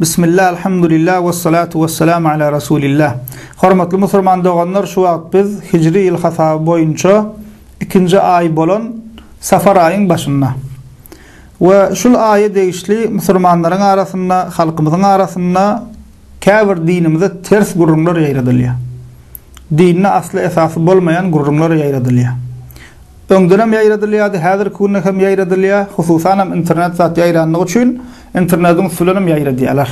Bismillah, alhamdulillah, ve salatu ve selamu ala Rasulillah. Hormatly musulman doganlar, şu wagt biz Hijri ýyl hasaby boýunça ikinji aý bolan Safar aýyň başynda. Ve şul aýa degişli musulmanlaryň arasynda, halkymyzyň arasynda käbir dinimize ters gürrüňler ýaýradylýar. Dinde asly-esasy bolmaýan gürrüňler ýaýradylýar. Öňdenem ýaýradylýardy, häzirki günde hem ýaýradylýar. Hususanam internet zat ýaýrandygy üçin internetiň üsti bilenem ýaýradýarlar.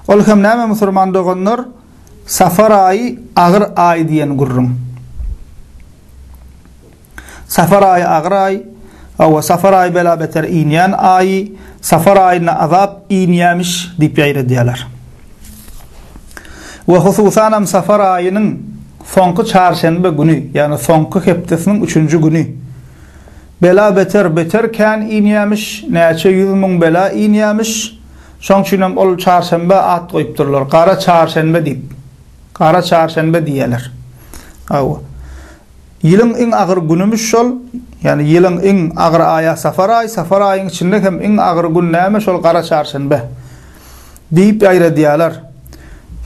Ol hem näme musurman doganlar, Safar aýy agyr aý diýen gürrüň. Safar aýy agyr aý, hawa, Safar aýy bela-beter inýän aýy, Safar aýynda azap inýämiş diýip ýaýradýarlar. we hususanam safar aýynyň soňky çarşenbe güni, ýagny soňky hepdesiniň üçünji güni bela-beter beter kän inýämiş, näçe ýüz müň bela inýämiş, şoň üçinem ol çarşenbä at goýupdyrlar, gara çarşenbe diýip, gara çarşenbe diýýärler. Hawa, ýylyň iň agyr günümiş şol, ýagny ýylyň iň agyr aýa safar aýy, safar aýyň içinde hem iň agyr gün näme, şol gara çarşenbe. diýip ýaýradýarlar.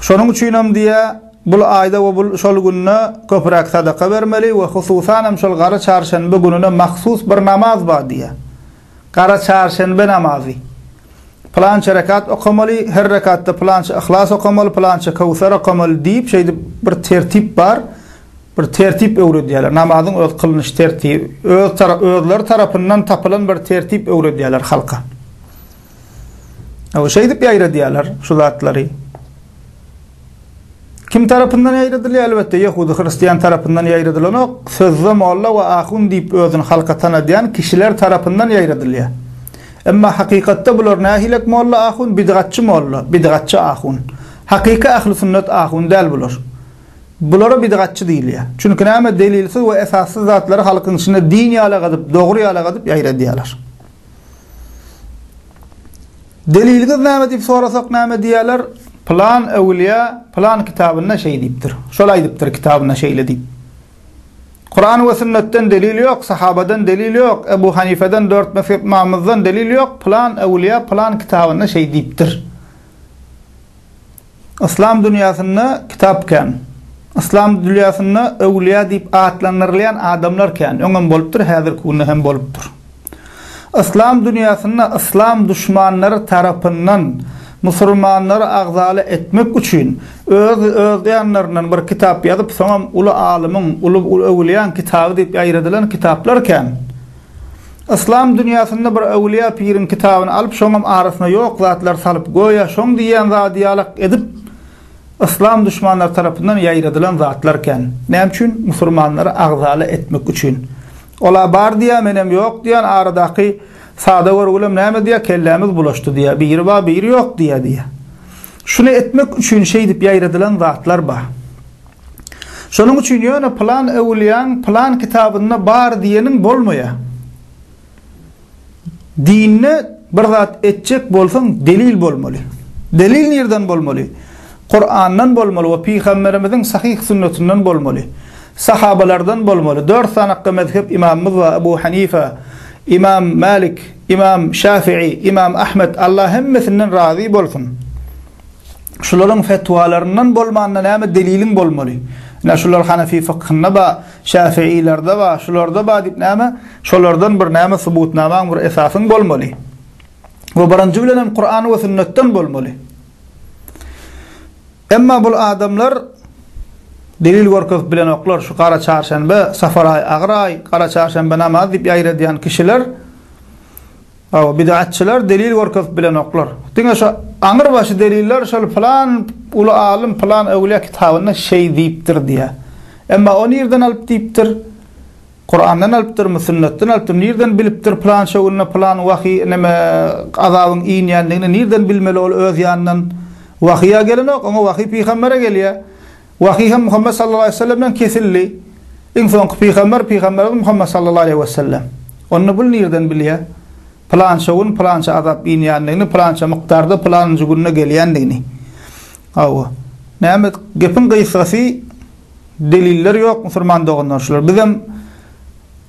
Şonuň üçinem diýýär, bul aýda we bul şol günde köpräk sadaka bermeli we hususanam şol gara çarşenbe gününe mahsus bir namaz bar diýýär. Gara çarşenbe namazy. Pylança rekat okamaly, her rekatda pylança Yhlas okamaly, pylança Köwser okamaly diýip, şeýdip bir tertip bar. Bir tertip öwredýärler. Namazyň öz kylnyş tertibi, öz özleri tarapyndan tapylan bir tertip öwredýärler halka. Aw şeýdip ýaýradýarlar şu zatlary. Kim tarapyndan ýaýradylýar? Elbetde ýehudy hristiýan tarapyndan ýaýradylanok. Sözde molla we ahun diýip özüni halka tanadýan kişiler tarapyndan ýaýradylýar. Emma hakykatda bular nähilek molla ahun? Bidgatçy molla, bidgatçy ahun. Hakyky ahli sünnet ahun däl bular. Bulara bidgatçy diýilýär. Çünki näme delilsiz we esassyz zatlary halkyň içinde din ýalagadyp, dogry ýalagadyp ýaýradýarlar. Deliliňiz näme diýip sorasak näme diýerler? Pylan öwülýä pylan kitabynda şeý diýipdir. Şol aýdypdyr kitabynda şeýle diýip. Kuran we sünnetden delil ýok, sahabadan delil ýok, Ebu Hanifeden dört mezhep ymamymyzdan delil ýok, pylan öwülýä pylan kitabynda şeý diýipdir. Yslam dünýäsinde kitap kän. Yslam dülýäsinde öwlüýä diýip atlandyrylýan adamlar kän. Öňem bolupdyr, häzirki günde hem bolupdyr. Yslam dünýäsinde yslam duşmanlary tarapyndan musulmanlary agzaly etmek üçin öz özýanlaryndan bir kitap ýazyp, soňam uly alymyň, uly öwlüýäň kitaby diýip ýaýradylan kitaplar kän. Yslam dünýäsinde bir äwliýa piriň kitabyny alyp şoňam arasyna ýok zatlar salyp göýä şoň diýýän zady ýalak edip Yslam duşmanlary tarapyndan ýaýradylan zatlar kän. Näme üçin? Musurmanlary agzala etmek üçin. Ola bar diýýä menem ýok diýýän aradaky sada görgülem näme diýýä kellämiz bulaşdy diýýä biri bar biri ýok diýýä diýýä. Şuny etmek üçin şeýdip ýaýradylan zatlar bar. Şonuň üçin ýöne pylan öwülýäň pylan kitabynda bar diýeniň bolmaýa. Dinde bir zat etjek bolsaň delil bolmaly. Delil nirden bolmaly? Kurandan bolmaly we pygamberimiziň sahyh sünnetinden bolmaly. Sahabalardan bolmaly. Dört sanakda mezhep imamymyz bar, Ebu Hanife, İmam Malik, İmam Şafii, İmam Ahmed, Allah hemmesinden razy bolsun. Şularyň fetwalaryndan bolmanda näme deliliň bolmaly? Ine şular hanefi fykhynda ba, şäfiilerde ba, şularda ba diýip näme, şolardan bir näme subutnamaň bir esasyň bolmaly. Bu birinji bilen hem Kuran we sünnetden bolmaly. Emma bul adamlar delil görkezip bilenoklar. Şu gara çarşenbe, safaraý, agyraý, gara çarşenbe namaz diýip ýaýradýan kişiler Hawa, bid'atçylar delil görkezip bilenoklar. Diňe şu aňyrbaşy deliller şol pylan uly alym pylan öwlýä kitabynda şeý diýipdir diýýär. Emma o nirden alyp diýipdir? Kurandan alypdyrmy, sünnetden alypdyrmy, nirden bilipdir pylança günde pylan wahyý neme azabyň inýändigini nirden bilmeli ol öz ýanyndan wahyýa gelenok, oňa wahyý pygambere gelýär. Wahyý hem Muhammet sallallahu aleýhi we sellem bilen kesildi. Iň soňky pygamber pygamberimiz Muhammet sallallahu aleýhi we sellem. Onda bul nirden bilýär? Pylança gün pylança azap inýändigini, pylança mukdarda pylanynjy günde gelýändigini. Hawa. Näme gepiň gysgasy deliller ýok musulman doganlar şular. Bizem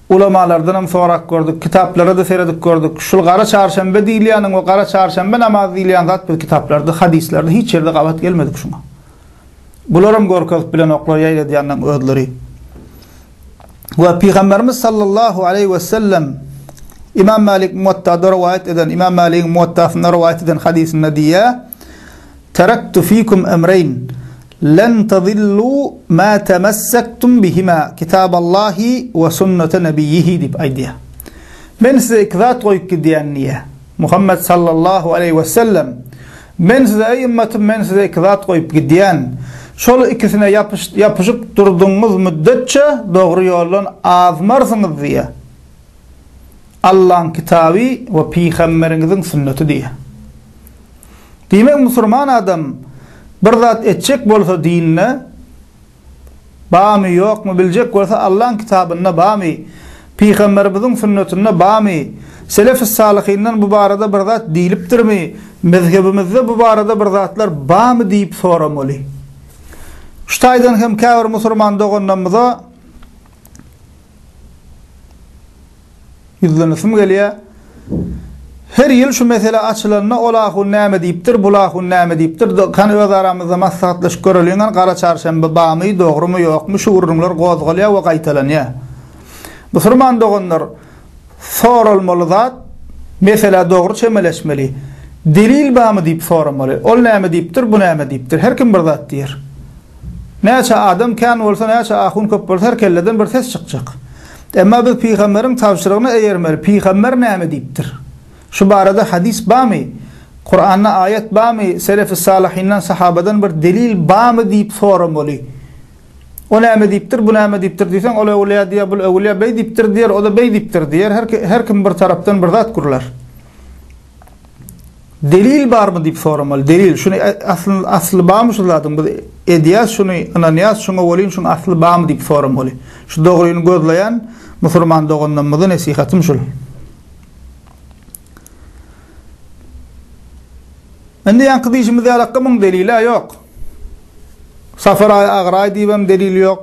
ulamalardan hem sorak gördük, kitaplara da seredip gördük. Şul gara çarşenbe diýilýäniň we gara çarşenbe namaz diýilýän zat bu kitaplarda, hadyslerde hiç ýerde gabat gelmedik şuňa. Bularam görkezip bilenoklar ýaýradýanlaryň özleri. We Pygamberimiz sallallahu aleýhi we sellem Imam Malik Muwatta'da rowaýat eden, Imam Maligiň Muwatta'synda rowaýat eden hadysynda diýýär: "Taraktu fikum emreyn len tazillu ma tamassaktum bihima kitaballahi we sunnata nebiyyihi" diýip aýdýar. Men size iki zat goýup gidýän diýýär. Muhammet sallallahu aleýhi we sellem Men size, eý ymmatym, men size iki zat goýup gidýän. Şol ikisine ýapyşyp durdugyňyz müddetçe dogry ýoldan azmarsyňyz diýýär. Allaň kitaby we pygamberiňiziň sünneti diýýär. Diýmek, musurman adam bir zat etjek bolsa dinine, Bamy ýokmy biljek bolsa Allaň kitabynda bamy pygamberimiziň sünnetinde bamy selefis salyhyndan bu barada bir zat diýlipdirmi mezhebimizde bu barada bir zatlar bamy diýip soramaly. Şu taýdan hem käbir musurman doganlamyza Ýüzlenesim gelýär. Her ýyl şu mesele açylanda ol ahun näme diýipdir, bul ahun näme diýipdir, kany öz aramyzda maslahatlaşyp göreliň gani gara çarşenbe bamy, dogrymy, ýokmy, şu gürrüňler gozgalýar we gaýtalanýar. Musurman doganlar, soralmaly zat, meselä dogry çemeleşmeli. Delil bamy diýip soramaly. Ol näme diýipdir, bu näme diýipdir. Her kim bir zat diýer. Näçe adam kän bolsa, näçe ahun köp bolsa her kelleden bir ses çykjak. Emma biz pygamberiň tabşyrygyna eýermeli. Pygamber näme diýipdir? Şu barada hadys barmy? Kuranda aýat barmy? Selefi salihyndan, sahabadan bir delil barmy diýip soramaly. O näme diýipdir, bu näme diýipdir diýseň, ol öwülýä diýýär, bul öwülýär, beý diýipdir diýer, o-da beý diýipdir diýer. Her kim bir tarapdan bir zat gürlär. Delil barmy diýip soramaly. Delil, şuny asly asly barmy şu zadyň biz edýäs şuny, ynanýas şuňa welin şuň asly barmy diýip soramaly. Şu dogryny gözleýän musurman doganlarymyza nesihatym şul. Indi ýaňky diýşimiz ýalakka muň delil-ä ýok. Safar aý agyr aý diýibem delil ýok.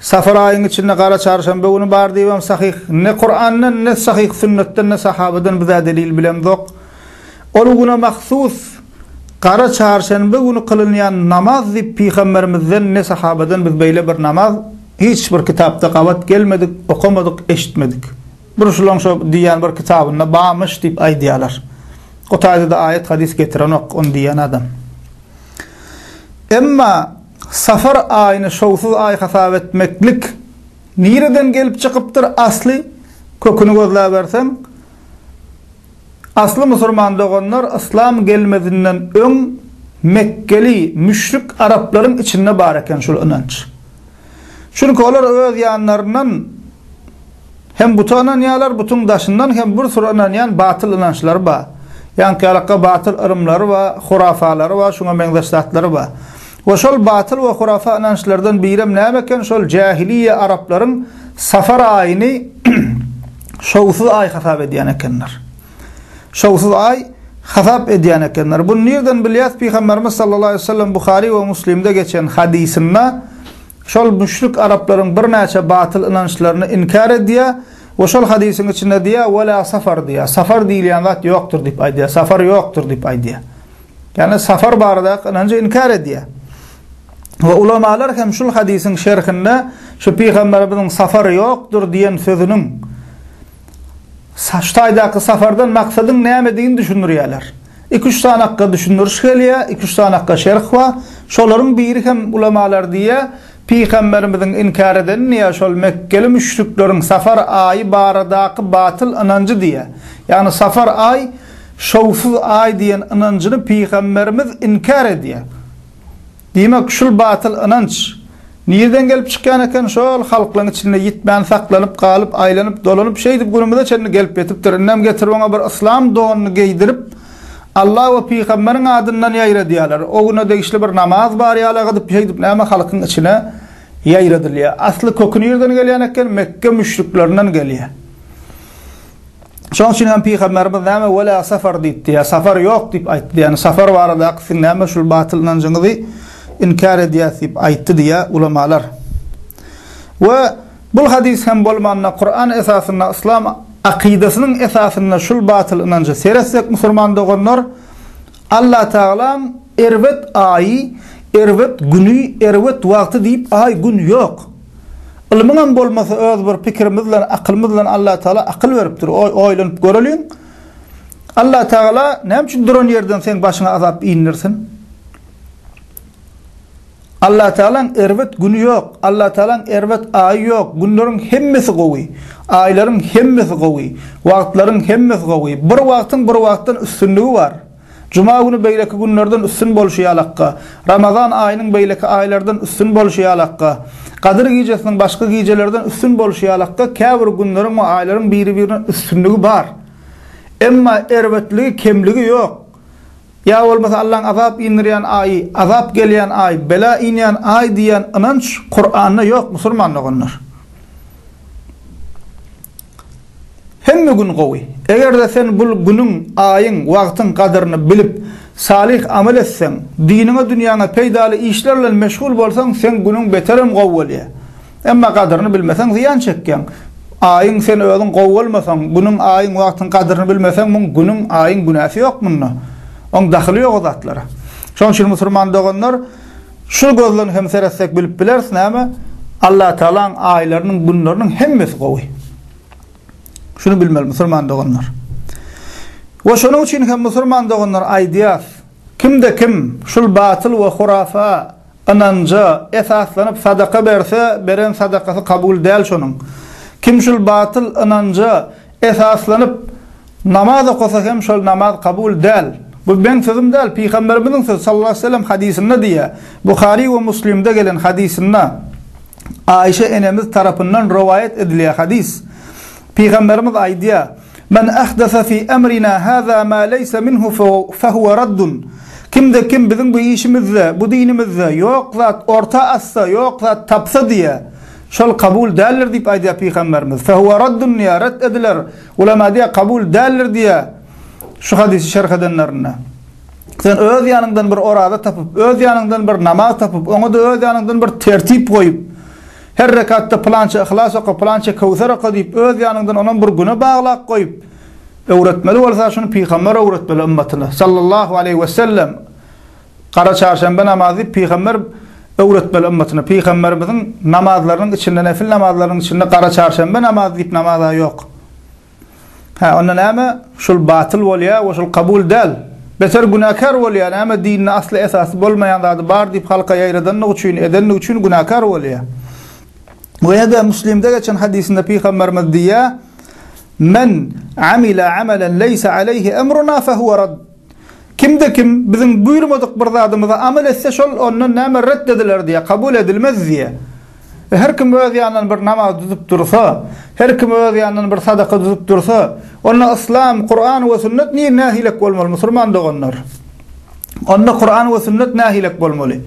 Safar aýyň içinde gara çarşanba güni bar diýibem sahyh ne Kurandan ne sahyh sünnetden ne sahabadan bizä delil bilemzok. Ol güne mahsus gara çarşanba güni kylynýan namaz diýip pygamberimizden ne sahabadan biz beýle bir namaz hiç bir kitapda gabat gelmedik, okamadyk, eşitmedik. Bir şulaň şo diýýän bir kitabynda bamyş diýip aýdýalar. O taýdada aýat hadys getirenok ony diýýän adam. Emma Safar aýyny şowsuz aý hasap etmeklik nireden gelip çykypdyr? Asly köküni gözläberseň, asly musurman doganlar yslam gelmezinden öň mekgeli müşrik araplaryň içinde bar eken şul ynanç. Çünki olar öz ýanlaryndan. Hem buta ynanýarlar, butuň daşyndan hem bir süre ynanýan batyl ynançlary bar. Ýaňky-ýalakga batyl yrymlary bar, hurafalary bar, şuňa meňzeş zatlary bar. We şol batyl we hurafa ynançlardan birem näme eken, şol jähiliýe araplaryň safar aýyny şowsuz aý hasap edýän ekenler. Şowsuz aý hasap edýän ekenler. Buny nirden bilýäs? Pygamberimiz sallallahu aleýhi we sellem Buhary we Muslimde geçen hadysynda, Şol müşrik araplaryň birnäçe batyl ynançlaryny inkär edýär we şol hadysyň içinde diýýär, Ve la safar diýýär. Safar diýilýän zat ýokdur diýip aýdýar. Safar ýokdur diýip aýdýar. Ýagny safar baradaky ynanjy inkär edýär. We ulamalar hem şul hadysyň şerhinde şu pygamberimiziň safar ýokdur diýen sözüniň, Şu taýdaky safardan maksadyň nämedigini düşündirýärler. Iki-üç sany akga düşündiriş gelýär, iki-üç sany akga şerh bar. Şolaryň biri hem ulamalar diýýär, Pygamberimiziň inkär edeni diýýär, şol mekgeli müşrikleriň safar aýy baradaky batyl ynanjy diýýär. Ýagny safar aý şowsuz aý diýen ynanjyny pygamberimiz inkär edýär. Diýmek, şul batyl ynanç nirden gelip çykýan eken, şol halklaň içinde ýitmän saklanyp galyp, aýlanyp, dolanyp, şeýdip günümize çenli gelip ýetipdir. Indem getirip oňa bir yslam donuny geýdirip, Alla we pygamberiň adyndan ýaýradýarlar. O güne degişli bir namaz bar ýala gydyp, şeýdip näme halkyň içine ýaýradylýar. Asly köki nirden gelýän eken, Mekge müşriklerinden gelýär. Şoň üçin hem pygamberimiz näme wela safar diýipdi, ýa safar ýok diýip aýtdy. Ýagny safar baradaky siziň näme şul batyl ynanjyňyzy inkär edýäs diýip aýtdy diýýär ulamalar. We bul hadys hem bolmanda Kuran esasynda yslam akydasynyň esasynda şul batyl ynanjy seretsek musulman doganlar Allah Tagalam erbet aýy, erbet güni, erbet wagty diýip aý gün ýok. Ylmyňam bolmasa öz bir pikirimiz bilen akylymyz bilen Allah Taala akyl beripdir oý oýlanyp göreliň Allah Taala näme üçin duran ýerden seň başyňa azap indirsin Allah Taalaň erbet güni ýok Allah Taalaň erbet aýy ýok günleriň hemmesi gowy aýlaryň hemmesi gowy wagtlaryň hemmesi gowy bir wagtyň bir wagtdan üstünligi bar. Juma güni beýleki günlerden üstün bolşy ýalakka, Ramazan aýynyň beýleki aýlardan üstün bolşy ýalakka, Gadyr gijesiniň başga gijelerden üstün bolşy ýalakka käbir günleriň we aýlaryň biri-birine üstünligi bar. Emma erbetligi, kemligi ýok. Ýa bolmasa Allaň azap indirýän aýy, azap gelýän aý, bela inýän aý diýýän ynanç Kuranda ýok, musulman doganlar. Hemme gün gowy. Eger-de sen bul günüň, aýyň, wagtyň gadyryny bilip, salyh amal etseň, diniňe, dünýäňe peýdaly işler bilen meşgul bolsaň, seň günüň beterem gowy bolýar. Emma gadyryny bilmeseň, zyýan çekýäň. Aýyň, sen özüň gowy bolmasaň, günüň, aýyň, wagtyň gadyryny bilmeseň, muň günüň, aýyň günäsi ýok munda. Oň dahyly ýok o zatlara. Şonuň üçin musurman doganlar, Şul gözlen hem seretsek bilip bileris näme Allatagalaň aýlarynyň günleriniň hemmesi gowy. Şuny bilmeli musulman doganlar. We şonuň üçin hem musulman doganlar aýdýas, kimde kim şul batyl we hurafa ynanja esaslanyp sadaka berse beren sadakasy kabul däl şonuň. Kim şul batyl ynanja esaslanyp Namaz okasa hem şol namaz kabul däl. Bu meň sözüm däl, Pygamberimiziň sözi sallallahu aleýhi we sellem hadysynda diýýär. Buhary we Muslimde gelen hadysynda Aişe enemiz tarapyndan rowaýat edilýär hadys. Pygamberimiz aýdýar, Men ahdasa fi emrina haza ma leýsa minhu fe huwa raddun. Kimde kim biziň bu işimizde, bu dinimizde ýok zat orta atsa, ýok zat tapsa diýýär, şol kabul däldir diýip aýdýar Pygamberimiz. Fe huwa raddun diýýär, ret ediler. Ulema diýýär, kabul däldir diýýär şu hadysy şerh edenlerinde. Sen öz ýanyňdan bir oraza tapyp, öz ýanyňdan bir namaz tapyp, oňa-da öz ýanyňdan bir tertip goýup, her rekatda pylança Yhlas oka, pylança Köwser oka diýip, öz ýanyňdan onam bir güne baglap goýup, öwretmeli bolsa, şuny pygamber öwretmeli ymmatyna, sallallahu aleýhi wesellem. Gara çarşenbe namazy Pygamber öwretmeli ymmatyna. Pygamberimiziň namazlarynyň içinde, nefil namazlarynyň içinde gara çarşenbe namazy diýip namaz-a ýok. Hä, onda näme? Şul batyl bolýar we şul kabul däl. Beter günäkär bolýar. Näme dinde asly esasy bolmaýan zady bar diýip halka ýaýradandygy üçin, edendigi üçin günäkär bolýar. We ýa-da Müslimde geçen hadysynda Pygamberimiz diýýär, Men amila amalan leýsa aleýhi emruna fehuwa rad. Kimde-kim biziň buýurmadyk bir zadymyza amal etse, şol ondan näme ret ediler diýýär, kabul edilmez diýýär. We her kim öz ýanyndan bir namaz tutup dursa, her kim öz ýanyndan bir sadaka tutup dursa, onda Yslam, Kuran we Sünnet nir nähilek bolmaly, musurman doganlar? Onda Kuran we Sünnet nähilek bolmaly?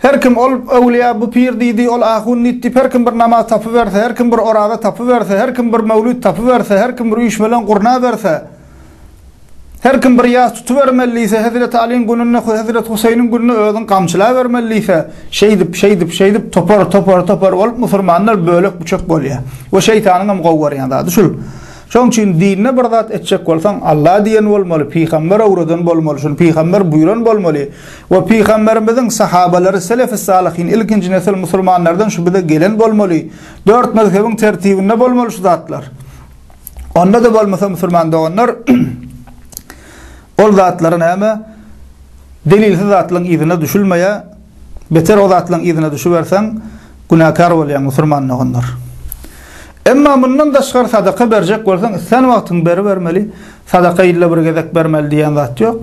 Her kim ol öwlüýä, bu pir diýdi, ol ahun diýdi diýip, her kim bir namaz tapyberse, her kim bir oraza tapyberse, her kim bir möwlüt tapyberse, her kim bir üýşmeleň gurnaberse, Her kim bir ýas tutubermeli diýse, Hezreti Alyň gününde, Hezreti Huseýniň gününde özüň gamçylabermeli diýse, şeýdip, şeýdip, şeýdip topar, topar, topar bolup musurmanlar bölek-büçek bolýar. Bu şeýtanyň hem gowy görýän zady şul. Şonuň üçin dinde bir zat etjek bolsaň, Alla diýen bolmaly, pygamber öwreden bolmaly, şuny pygamber buýran bolmaly we pygamberimiziň sahabalary, selef-i salyhin, ilkinji nesil musurmanlardan şu bize gelen bolmaly. Dört mezhebiň tertibinde bolmaly şu zatlar. Onda-da bolmasa musulman doganlar ol zatlary näme delilsiz zatlaryň yzyna düşülmeýär. Beter o zatlaryň yzyna düşüberseň günäkär bolýaň musulman doganlar. Emma mundan daşgary sadaka berjek bolsaň islän wagtyň beribermeli. Sadaka ýylda bir gezek bermeli diýen zat ýok.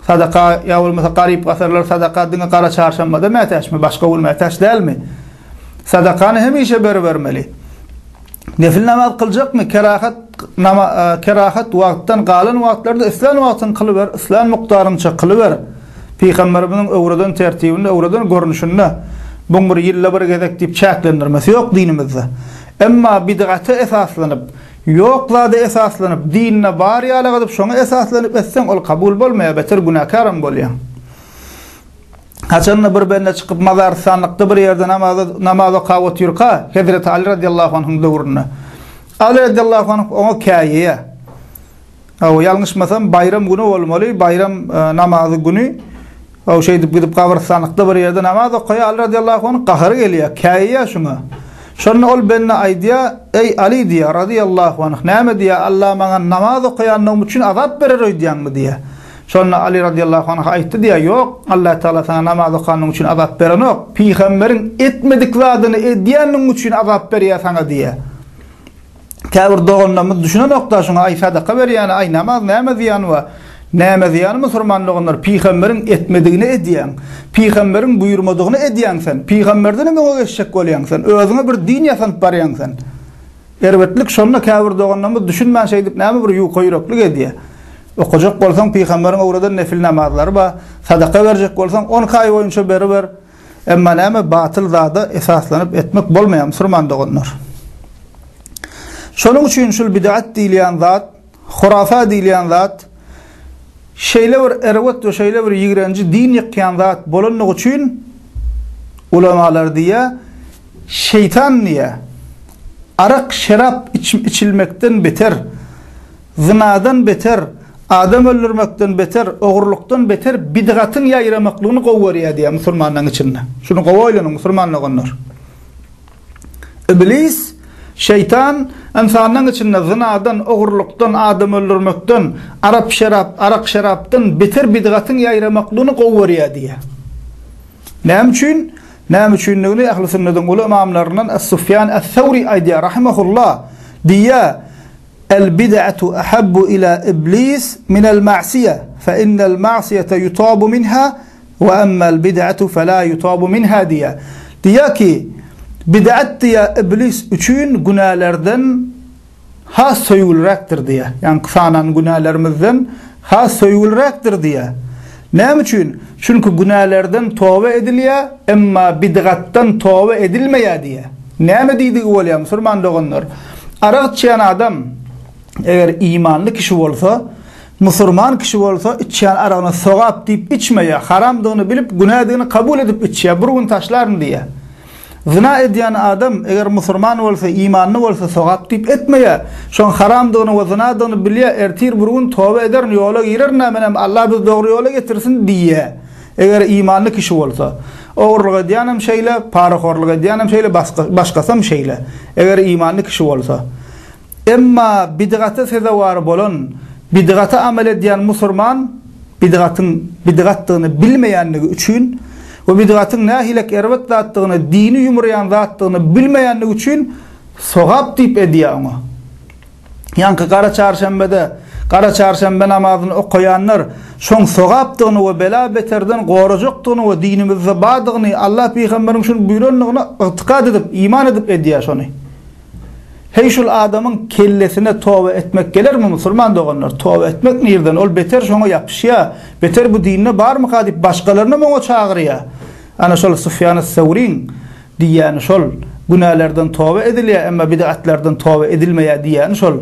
Sadaka ýa bolmasa garyp-gasarlar sadaka diňe gara çarşanbada mätäçmi, başga gün mätäç dälmi? Sadakany hemişe beribermeli. Nefil namaz kyljakmy? Kerahat kerahat wagtdan galan wagtlarda islän wagtyň kylyber, islän mukdaryňça kylyber. Pygamberimiziň öwreden tertibinde, öwreden görnüşinde buň bir ýylda bir gezek diýip çäklendirmesi ýok dinimizde. Emma bidgata esaslanyp, ýok zada esaslanyp, dinde bar ýaly gydyp şoňa esaslanyp etseň ol kabul bolmaýar, beter günäkär hem bolýaň. Haçanda bir bende çykyp mazaryssanlykda bir ýerde namaza namaz okap otyrka, Hezreti Aly radiyallahu anhun döwründe. Aly radiyallahu anh oňa käýýär. Aw ýalňyşmasam baýram güni bolmaly, baýram e, namazy güni Aw şeýdip gidip gabyryssanlykda bir ýerde namaz okaýar. Aly radiyallahu anh gahary gelýär, käýýär şuňa. Şonda ol bende aýdýar, "Eý Aly" diýýär radiyallahu anh, "Näme diýýär? Allah maňa namaz okaýanlygym üçin azap berer öýdýäňmi?" diýýär. Şonda Aly radiyallahu anh aýtdy diýýär, Ýok, Allah Tagala saňa namaz okanyň üçin azap berenok. Pygamberiň etmedik zadyny edýänligiň üçin azap berýär saňa diýýär. Käbir doganlarymyz düşünenok-da şuňa, aý sadaka berýäni, aý namaz näme zyýany bar? Näme zyýany musulman doganlar, pygamberiň etmedigini edýäň. Pygamberiň buýurmadygyny edýäň sen. Pygamberdenem öňe geçjek bolýaň sen. Özüňe bir din ýasanyp barýaň sen. Erbetlik şonda käbir doganlarymyz düşünmän şeýdip näme bir ýuka ýüreklik edýär. Okajak bolsaň pygamberiň öwreden nefil namazlary bar, sadaka berjek bolsaň on kaý boýunça beriber. Emma näme batyl zada esaslanyp etmek bolmaýar musurman doganlar. Şonuň üçin şul bidat diýilýän zat Hurafa diýilýän zat şeýle bir erbet we şeýle bir ýigrenji din ýykýan zat bolandygy üçin ulamalar diýýär, Şeýtan diýýär, Arak, şerap içilmekden beter, zynadan beter, adam öldürmekden beter, ogurlykdan beter bidgatyň ýaýramaklygyny gowy görýär diýýär musulmanlaryň içinde. Şuny gowy oýlanyň musulman doganlar. Iblis, Şeýtan, ynsanyň içinde zynadan, ogurlykdan, adam öldürmekden, arap-şerap, arak-şerapdan beter bidgatyň ýaýramaklygyny gowy görýär diýýär. Näme üçin? Näme üçindigini ähli sünnediň uly ymamlaryndan Es-Sufýan Es-Sawri aýdýar, rahimehullah, diýýär, El-bid'atu ahabbu ila iblis minel-ma'siýe, fe innel-ma'siýete ýutabu minha, Wa ammal bid'atu fela yutabu minha diýýär. Diýýär ki, bid'at diýýär iblis üçin günälerden has söýgüliräkdir diýýär. Ýagny sanan günälerimizden has söýgüliräkdir diýýär. Näme üçin? Çünki günälerden toba edilýär, emma bid'atdan toba edilmeýär diýýär. Näme diýdigi bolýar musulman doganlar? Arak içýän adam eger imanly kişi bolsa, Musurman kişi bolsa içýän aragyny sogap diýip içmeýär, haramdygyny bilip, günädigini kabul edip içýär, bir gün taşlaryn diýýär. Zyna edýän adam, eger musurman bolsa, imanly bolsa, sogap diýip etmeýär. Şoň haramdygyny we zynadygyny bilýär, ertir bir gün toba ederin, ýola girerin-ä, menem Allah bizi dogry ýola getirsin diýýär, eger imanly kişi bolsa. Ogurlyk edýänem şeýle, parahorlyk edýänem şeýle, başgasam şeýle, eger imanly kişi bolsa. Emma bidgata sezewar bolan, bidgata amel edýän musurman bidgatyň bidgatdygyny bilmeýändigi üçin we bidgatyň nähilek erbet zatdygyny, dini ýumraýan zatdygyny bilmeýändigi üçin sogap diýip edýär oňa. Ýaňky gara çarşenbede gara çarşenbe namazyny okaýanlar şoň sogapdygyny we bela-beterden gorajakdygyny we dinimizde bardygyny, Allah pygamberiň şuny buýrandygyna ygtykat edip, iman edip edýär şony. Heý şul adamyň kellesine toba etmek gelermi musulman doganlar toba etmek nirden ol beter şoňa ýapyşýa beter bu dinde barmyka diýip başgalaryny oňa çagyrýa ana şol Sufýana Sawriň diýýäni şol günälerden toba edilýä emma bidatlardan toba edilmeýä diýýäni şol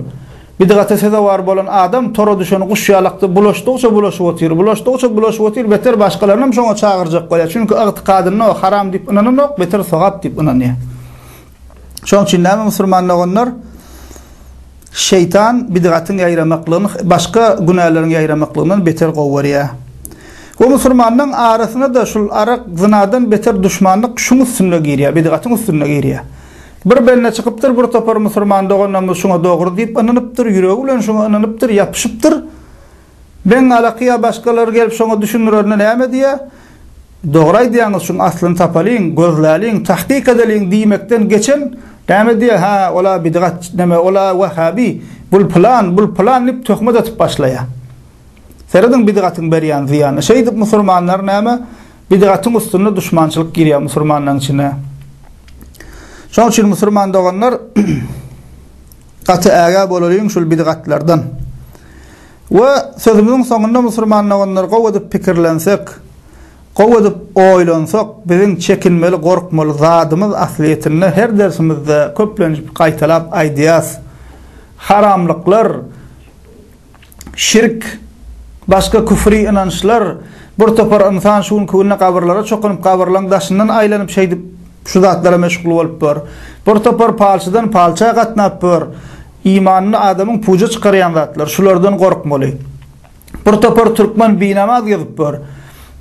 bidgata sezewar bolan adam tora düşen guş ýalakda bulaşdygyça bulaşyp otyr bulaşdygyça bulaşyp otyr beter başgalaryny hem şoňa çagyrjak bolýa çünki ygtykadynda haram diýip ynananok beter sogap diýip ynanýa. Şoň üçin näme musulman doganlar? Şeýtan bidgatyň ýaýramaklygyny başga günäleriň ýaýramaklygyndan beter gowy görýär. Bu musulmanlaryň arasyna-da şul arak, zynadan beter duşmanlyk şuň üstünde girýär, bidgatyň üstünde girýär. Bir bende çykypdyr, bir topar musulman doganlarymyz şuňa dogry diýip ynanypdyr, ýüregi bilen şuňa ynanypdyr, ýapyşypdyr. Meň alaky ýa başgalary gelip şoňa düşündirende näme diýýä? Dogry aýdýaňyz şuň aslyny tapalyň, gözläliň, tahkyk edeliň diýmekden geçen näme diýýä? Hä, ol-a bidgat, näme, ol-a wehhabi, bul pylan, bul pylan diýip töhmet atyp başlaýa. Serediň bidgatyň berýän zyýanyna. Şeýdip musurmanlar näme? Bidgatyň üstünde duşmançylyk girýä musurmanlaryň içine. Şoň üçin musurman doganlar Gaty ägä bolalyň şul bidgatlardan. We sözümiziň soňunda musulman doganlar gowy edip pikirlensek, gowy edip oýlansak biziň çekinmeli gorkmaly zadymyz aslyýetinde her dersimizde köplenç gaýtalap aýdýas, haramlyklar, şirk, başga küfri ynançlar, bir topar ynsan şu günki günde gabyrlara çokunyp, gabyrlaň daşyndan aýlanyp şeýdip şu zatlara meşgul bolup bor. Bir topar palçydan palça gatnap bor. Imanyny adamyň puja çykarýan zatlar, şulardan gorkmaly. Bir topar türkmen binamaz gezip bor.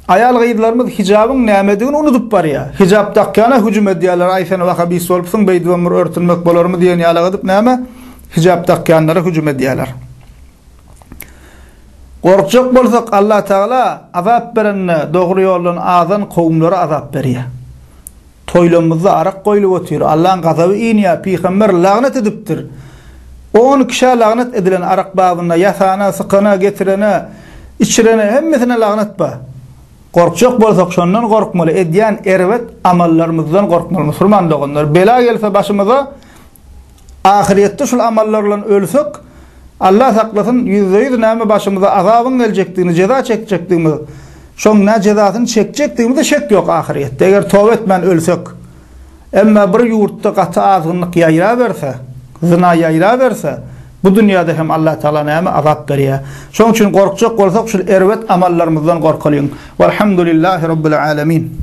Aýal-gyzlarymyz hijabyň nämedigini unudyp barýa. Hijap dakýana hüjüm edýäler, aý sen wahabist bolupsyň, beýdibem bir örtünmek bolarmy diýen ýalak edip näme? Hijap dakýanlara hüjüm edýärler. Gorkjak bolsak Allah Tagala azap berende dogry ýoldan azan kowumlara azap berýär. Toýlamyzda arak goýlup otyr, Allaň gazaby inýär, pygamber lagnet edipdir. On kişä lagnet edilen arak babynda ýasana, sykana, getirene, içirene hemmesine lagnet bar. Gorkjak bolsak şondan gorkmaly, edýän erbet amallarymyzdan gorkmaly musulman doganlar. Bela gelse başymyza Ahyrýetde şul amallar bilen ölsek, Allah saklasyn, ýüzde-ýüz näme başymyza azabyň geljekdigini, jeza çekjekdigimiz, şoň nä jezasyny çekjekdigimize şek ýok ahyrýetde, eger toba etmän ölsek. Emma bir ýurtda gaty azgynlyk ýaýraberse, zyna ýaýraberse, bu dünýäde hem Allah Tagala näme azap berýär. Şoň üçin gorkjak bolsak, şul erbet amallarymyzdan gorkalyň. Walhamdulillahi Rabbil Alemin.